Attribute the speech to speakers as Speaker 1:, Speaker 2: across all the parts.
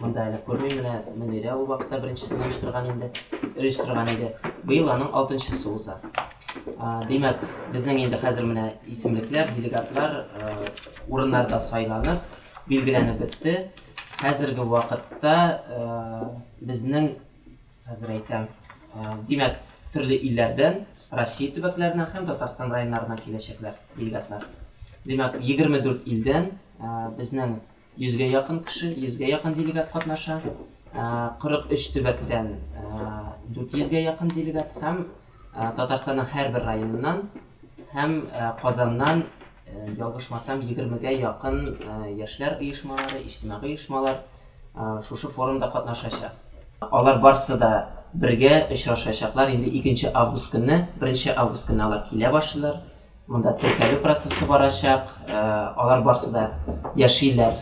Speaker 1: Монда әле күрмим, менә Мөнирә ул вакытта беренчесен оештырган инде, оештырган иде. Быел аның алтынчысы уза. Димәк, безнең инде хәзер менә исемлекләр, делегатлар урыннарда сайланып, билгеләнеп бетте. Хәзерге вакытта безнең, хәзер әйтәм, димәк, төрле илләрдән, Россия төбәкләреннән һәм Татарстан районнарыннан киләчәкләр, делегатлар. Димәк, 24 илдән безнең Йөзгә якын кеше, йөзгә якын делегат катнаша. 43 төбәктән 400 гә якын делегат һәм Татарстанның һәрбер районыннан һәм Казаннан, ялгышмасам, 20 гә якын яшьләр оешмалары, иҗтимагый оешмалар шушы форумда катнашачак. Алар барсы да бергә очрашачаклар. Инде икенче август көнне, беренче август көнне алар килә башлыйлар. Монда теркәлү процессы барачак. Алар барсы да яшиләр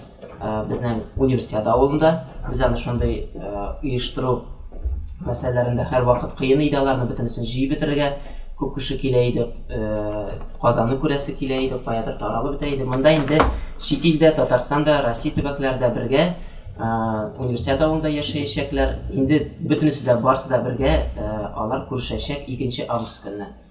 Speaker 1: безнең Универсиада авылында. Без аны шундый оештыру мәсьәләләрендә һәрвакыт кыен иде аларны бөтенесен җыеп бетерергә. Күп кеше килә иде, Казанны күрәсе килә иде, каядыр таралып бетә иде. Монда инде чит илдә, Татарстанда, Россия төбәкләре дә бергә Универсиада авылында яшәячәкләр. Инде бөтенесе дә, барсы да бергә алар күрешәчәк икенче август көнне.